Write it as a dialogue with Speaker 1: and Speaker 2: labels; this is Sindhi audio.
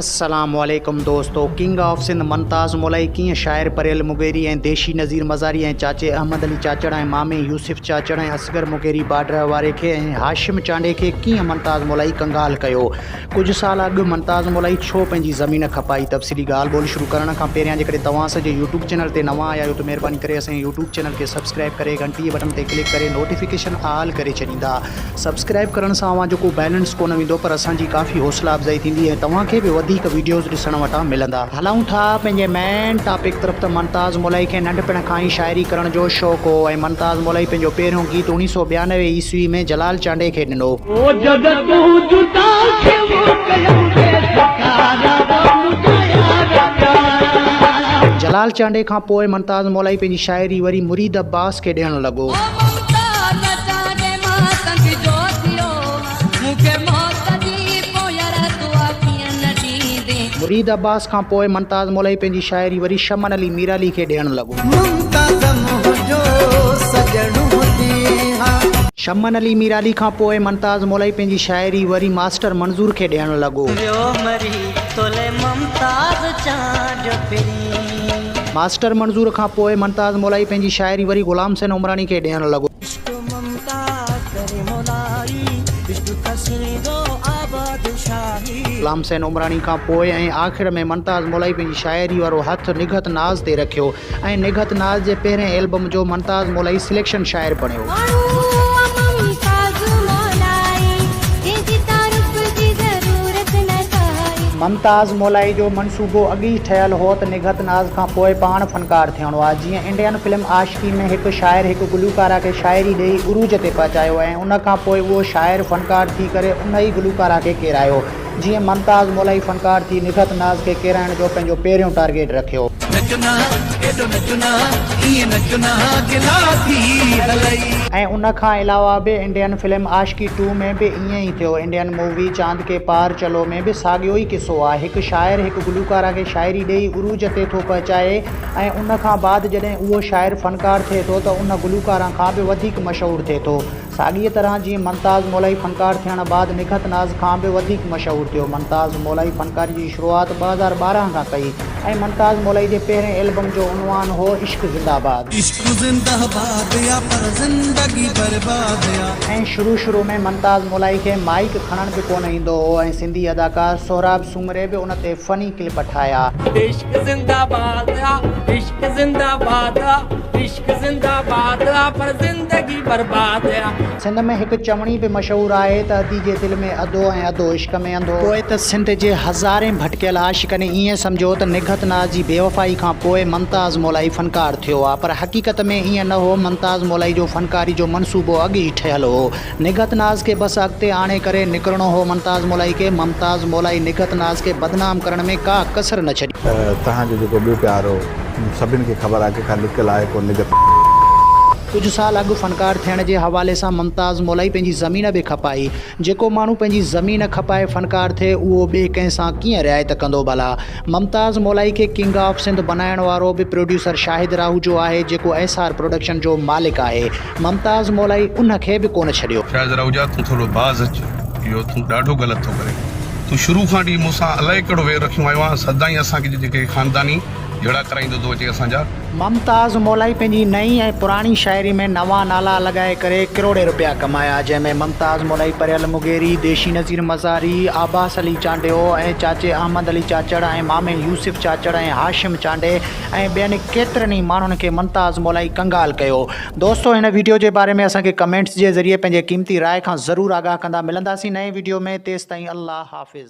Speaker 1: السلام عليڪم دوستو ڪنگ آف سنڌ منتاز مولائي ڪيئن شاعر پريل مغيري ۽ ديشي نظير مزاري ۽ چاچي احمد علي چاچڙ ۽ مامي يوسف چاچڙ ۽ اصغر مغيري باڊرهه واري کي ۽ هاشم چانڊئي کي ڪيئن منتاز مولائي ڪنگال ڪيو ڪجهه سال اڳ منتاز مولائي ڇو پنهنجي زمين کپائي تفصيلي ڳالهه ٻولهه شروع ڪرڻ کان پهريان جيڪڏهن توهان اسان جي يوٽيوب چينل تي نوان آيا آهيو ته مهرباني ڪري اسان جي يوٽيوب چينل کي سبسڪرائب ڪري گهنٽي جي بٽڻ تي ڪلڪ ڪري نوٽيفڪيشن آل ڪري ڇڏيندا سبسڪرائب ڪرڻ سان اوهان جو ڪو بيلنس ڪونه ويندو پر اسان جي ڪافي حوصلا افزائي ٿيندي ۽ توهان کي به وڌيڪ وڊيوز ڏسڻ وٽان ملندا. هلون ٿا پنهنجي مين ٽاپڪ طرف ته ممتاز مولائي کي ننڍپڻ کان ئي شاعري ڪرڻ جو شوق هو ۽ ممتاز مولائي پنهنجو پهريون گيت اڻيهه سؤ ٻيانوي عيسوي ۾ جلال چانڊئي کي ڏنو. جلال چانڊئي کان پوء ممتاز مولائي پنهنجي شاعري وري مريد عباس کي ڏيڻ لڳو. مريد عباس کان پوء ممتاز مولوي پنهنجي شاعري وري شمن علي ميرعلي کي ڏيڻ لڳو. شمن علي ميرعلي کان پوء ممتاز مولوي پنهنجي شاعري وري ماسٽر منظور کي ڏيڻ لڳو. ماسٽر منظور کان پوء ممتاز مولائي پنهنجي شاعري وري غلام حسين عمراڻي کي ڏيڻ لڳو. عشق ممتاز ڪري مولائي، عشق کسيندو آباد شاهي. غلام حسين عمراڻي کان پوء ۽ آخر ۾ ممتاز مولائي پنهنجي شاعري وارو هٿ نگهت ناز تي رکيو ۽ نگهت ناز جي پهرين البم جو ممتاز مولائي سليڪشن شاعر بڻيو. ممتاز مولائي جو منصوبو اڳ ئي ٺهيل هو ته نگهت ناز کان پوء پاڻ فنڪار ٿيڻو آهي. جيئن انڊين فلم عاشقي ۾ هڪ شاعر هڪ گلوڪاره کي شاعري ڏيئي عروج تي پهچايو ۽ ان کان پوء اهو شاعر فنڪار ٿي ڪري ان ئي گلوڪاره کي ڪيرايو. جيئن ممتاز مولائي فنڪار ٿي نگهت ناز کي ڪيرائڻ جو پنهنجو پهريون ٽارگيٽ رکيو. نچو نا ايڏو نچو نا ائين نچو نا گلا ٿي هلئي. ۽ ان کان علاوه به انڊين فلم عاشقي ٽو ۾ به ائين ئي ٿيو. انڊين مووي چاند ڪي پار چلو ۾ به ساڳيو ئي قصو آهي. هڪ شاعر هڪ گلوڪاره کي شاعري ڏيئي عروج تي ٿو پهچائي ۽ ان کان بعد جڏهن اهو شاعر فنڪار ٿئي ٿو ته ان گلوڪاره کان به وڌيڪ مشهور ٿئي ٿو. ساڳيء طرح جيئن ممتاز مولائي فنڪار ٿيڻ بعد نگهت ناز کان به وڌيڪ مشهور ٿيو. ممتاز مولائي فنڪاري جي شروعات ٻه هزار ٻارهن کان ڪئي ۽ ممتاز مولائي جي پهرين البم جو عنوان هو عشق زنده باد. عشق زنده باد يا پر زندگي برباد يا. ۽ شروع شروع ۾ ممتاز مولائي کي مائيڪ کڻڻ به ڪونه ايندو هو ۽ سنڌي اداڪار سهراب سومري به ان تي فني ڪلپ ٺاهيا. عشق زنده باد يا عشق زنده باد يا. زنده باد آ پر زندگي برباد آ. سنڌ ۾ هڪ چوڻي به مشهور آهي ته ادي جي دل ۾ ادو ۽ ادو عشق ۾ انڌو. پوء ته سنڌ جي هزارين ڀٽڪيل عاشقن ائين سمجهيو ته نگهت ناز جي بيوفائي کان پوء ممتاز مولائي فنڪار ٿيو آ پر حقيقت ۾ ائين نه هو ممتاز مولائي جو فنڪاري جو منصوبو اڳ ئي ٺهيل هو نگهت ناز کي بس اڳتي آڻي ڪري نڪرڻو هو ممتاز مولائي کي. ممتاز مولائي نگهت ناز کي بدنام ڪرڻ ۾ ڪا ڪسر نه ڇڏي. توهان جو جيڪو ٻيو
Speaker 2: پيار هو سڀن کي خبر آهي ڪيکان لڪيل آهي ڪو نگهت ناز. ڪجهه
Speaker 1: سال اڳ فنڪار ٿيڻ جي حوالي سان ممتاز مولائي پنهنجي زمين به کپائي. جيڪو ماڻهو پنهنجي زمين کپائي فنڪار ٿئي اهو ٻئي ڪنهن سان ڪيئن رعايت ڪندو ڀلا. ممتاز مولائي کي ڪنگ آف سنڌ بنائڻ وارو به پروڊيوسر شاهد راهوجو آهي جيڪو ايس آر پروڊڪشن جو مالڪ آهي. ممتاز مولائي ان کي به ڪونه ڇڏيو. شايد رئوجا تون ٿورو
Speaker 3: باز اچ اهو تون ڏاڍو غلط ٿو ڪرين تون شروع کان وٺي مون سان الائي ڪهڙو وير رکيون آيو آهين سدائين اسان کي جيڪي خانداني جهيڙا ڪرائيندو ٿو اچي اسان جا. ممتاز مولائي
Speaker 1: پنهنجي نئين ۽ پراڻي شاعري ۾ نوان نالا لڳائي ڪري ڪروڙين روپيا ڪمايا جنهن ۾ ممتاز مولائي پريل مغيري، ديشي نذير مزاري، عباس علي چانڊيو ۽ چاچي احمد علي چاچڙ ۽ مامي يوسف چاچڙ ۽ هاشم چانڊي ۽ ٻين ڪيترن ئي ماڻهن کي ممتاز مولائي ڪنگال ڪيو. دوستو هن ويڊيو جي باري ۾ اسان کي ڪمينٽس جي ذريعي پنهنجي قيمتي راء کان ضرور آگاهه ڪندا ملنداسين نئين ويڊيو ۾ تيستائين الله حافظ.